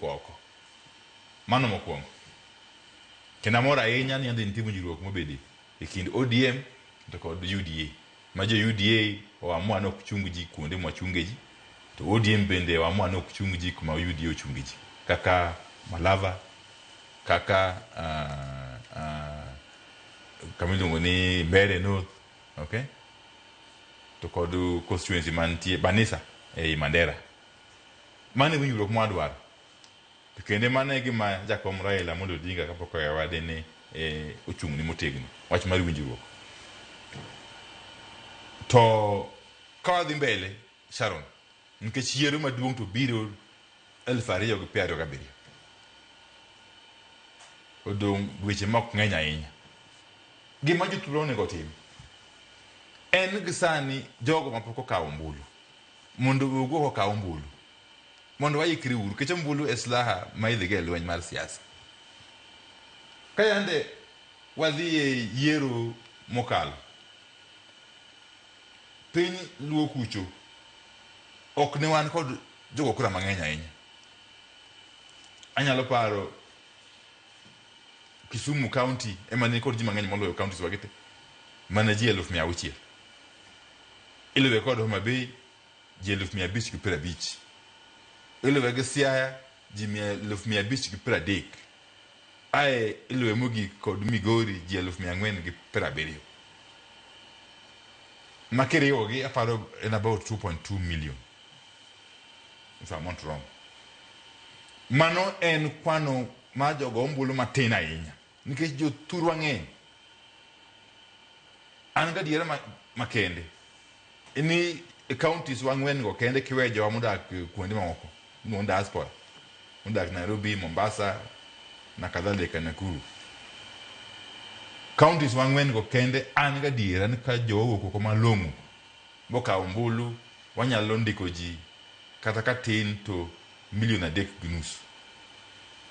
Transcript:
oko. Mano mokuongo. Kendo amor ahinya ni yande nitie winjruok mobede ekind ODM to kod UDA. Ma jo UDA o amua ni ok chung ji kuonde mwa chunge ji, to ODM bende o amua ni ok chung ji kuma UDA ochunge ji. Kaka Malava, kaka uh, uh, kama iluongo ni Mbere North, okay? To kod constituency mantie Banisa ei Mandera. Mano e winjruok ma wadwaro. To kendo mano e gima jakom Raila Amolo Odinga kapok owewa dine ochung'ne motegno, wach mar winjruok. To ka wadhi mbele Sharon, nikech yiero maduong' to biro elfu ariyo gi piero ariyo gabiriyo. Odong' dweche ma ok ng'eny ahinya. Gima jothuolo onego otim en gisani jogo mapok okawo ombulu, Mondo owuog oko okaw ombulu. Mondo waikre uru. Nikech ombulu e slaha ma idhigo e lweny mar siasa. Ka yande wadhi e yiero mokalo, piny luo kucho ok ne wan kod jogo kura mang'eny ahinya. Anyalo paro Kisumu county ema ne nikod ji mang'eny moloyo counties wa gi te. Mana ji eluf mia auchiel. Iluwe kod Homa Bay ji eluf mia abich gi piero abich. Iluwe gi Siaya ji mia eluf mia abich gi piero adek. Ae iluwe mogik kod Migori ji eluf mia ang'wen gi piero abiriyo. Ma kiriwogi aparo en about 2.2 million if I'm not wrong. Mano en kwano mar jogo ombulu matin ahinya. Nikech jo thurwa ng'eny. An gadiera ma, ma kende ni e counties wa ng'wen go kende kiwe jowa modak eh, kuonde mamoko mon diaspora modak Nairobi, Mombasa na kadhalika Nakuru. Counties wa ng'wen go kende an gadiera ni ka jowa owuok oko malong'o mokawo ombulu wanyalo ndiko ji kata ka tin to milion adek gi nus.